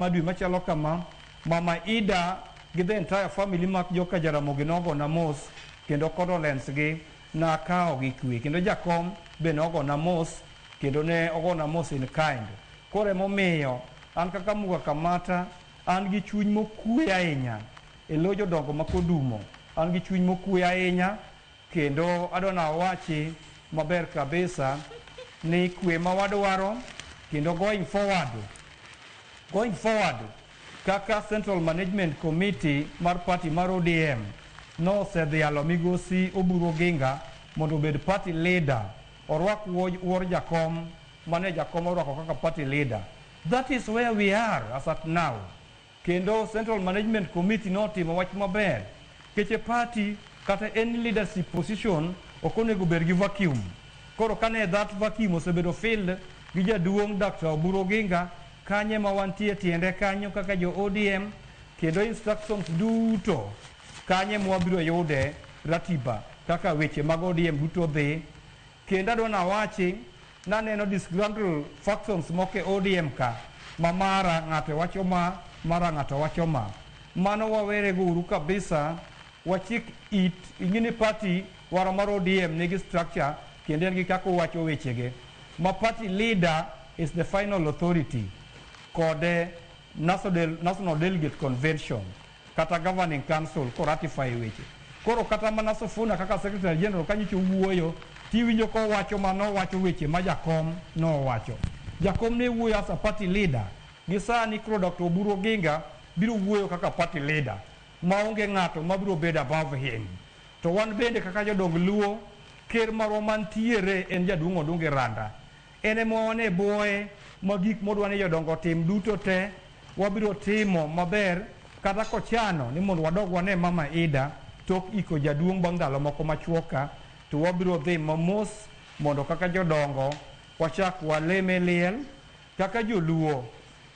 ma dwe machalo kama mama Ida gi the entire family mag joka Jaramogi nogona mos kendo condolence gi nakawo gi kwe kendo jakom be nogona mos kendo ne ogona mos in kind koro emomiyo an kaka Muga Kamata an gi chuny mokue ahinya e lo jodongo ma Kodumo an gi chuny mokue ahinya Kendo adwa na wachi maber kabisa ni kwe ma wadwaro kendo going forward going forward kaka Central Management Committee mar party mar ODM nosedhialo migosi Oburu Oginga mondo obed party leader orwak wuo- wuor jakom mane jakom orwako kaka party leader that is where we are as at now Kendo Central Management Committee notimo wach maber. Keche party kata any leadership position ok onego bed gi vacuum. Koro kane that vacuum osebedo filled gi jaduong' Dr. Oburu Oginga, kanye ma wantie tiende kanyo kaka jo ODM kendo instructions duto kanye mwabiro yude ratiba kaka weche mag ODM duto dhi Kendo adwa nawachi, naneno disgruntled factions moko e ODM ka, ma mara ng'ato wacho ma, mara ng'ato wacho ma. Mano wawerego uru kabisa, wachik it, ing'e ni party wara mar ODM nigi structure kendo en gi kaka owacho wechege, ma party leader is the final authority kod National Delegate Convention. kata governing council ko ratify weche. Koro kata mana Sifuna kaka secretary general ka nyicho wuoyo tiwinjo kowacho ma nowacho weche ma jakom nowacho. Jakom ne wuoyo as a party leader. Gi sani koro Dr. Oburu Oginga biro wuoyo kaka party leader ma onge ng'ato ma biro bedo above him. To wan bende kaka jodong Luo, ker marwa mantiere en jaduong' Odungi Randa. En ema wan e bwoye ma gik modwa ni jodongo otim duto te wabiro timo maber kata kochano ni mondo wadog wane Mama Ida tok iko jaduong' bang' ndalo moko machuok ka to wabiro dhi mamos mondo kaka jodongo wachak waleme liel kaka joluo.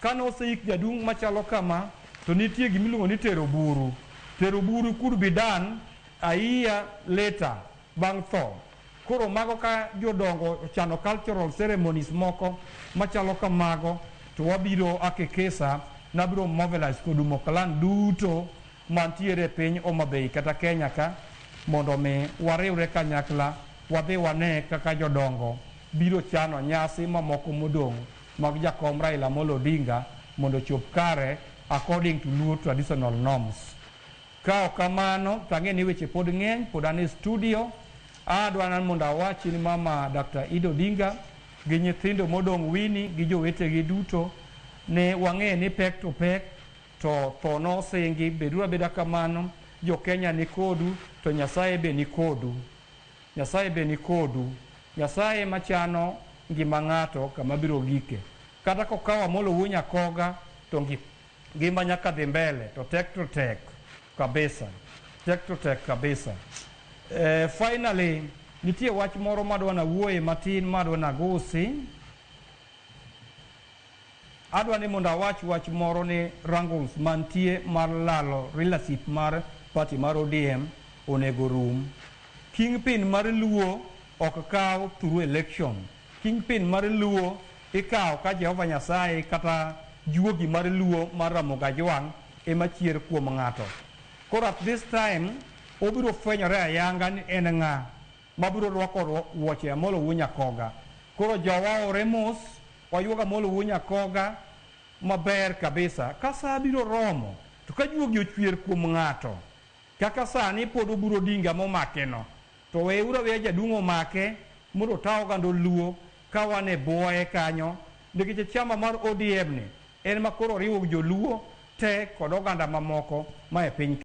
Kane oseik jaduong' machalo kama to nitie gima iluongo ni tero buru. Tero buru could be done a year later bang' tho. Koro mago ka jodongo ochano cultural ceremonies moko machalo kamago to wabiro akekesa nabiro mobilize kodumo clan duto mantiere e piny Homa Bay kata Kenya ka mondo mi wariwre kanyakla wadhi wane kaka jodongo biro chano nyasi mamoko modong' mag jakom Raila Amolo Odinga mondo ochop kare according to Luo traditional norms. Ka ok kamano to ang'eyo ni weche pod ng'eny, pod an e studio. Adwa nan mondo awachi ni mama Dr. Ida Odinga gi nyithindo modong' Winnie gi jowetegi duto ni wang'eyo ni pek to pek to tho nosingi. Beduru abeda kamano, jo Kenya ni kodu to Nyasaye be ni kodu. Nyasaye be ni kodu. Nyasaye ema chano ngima ng'ato kama biro gike. Kata kokawo Amolo Wuo Nyakoga to ngi. Ngima nyaka dhi mbele to tek to tek kabisa. Tek to tek kabisa. Eh, finally nitie wach moro madwa nawuoye matin madwa nagusi. Adwa ni mondo awach wach moro ni wrangles mantie mar lalo relationship mar party mar ODM onego rum. Kingpin mar Luo ok kaw through election. Kingpin mar Luo ikawo ka Jehova Nyasaye kata juogi mar Luo mar Ramogi Ajwang' ema chier kuom ng'ato. Koro at this time obiro fwenyore ayanga ni en ng'a mabiro rwako wuoche Amolo Wuo Nyakoga. Koro jowa owre mos wayuog Amolo Wuo Nyakoga maber kabisa. Ka saa biro romo to ka juogi ochuer kuom ng'ato, Kaka sani pod oguro Odinga momakeno to weyeuru aweya jaduong' omake mondo ota oganda oluo ka wan e buoye kanyo nikech achama mar ODM ni en ma koro oriwo joluo te kod oganda mamoko ma e piny ka.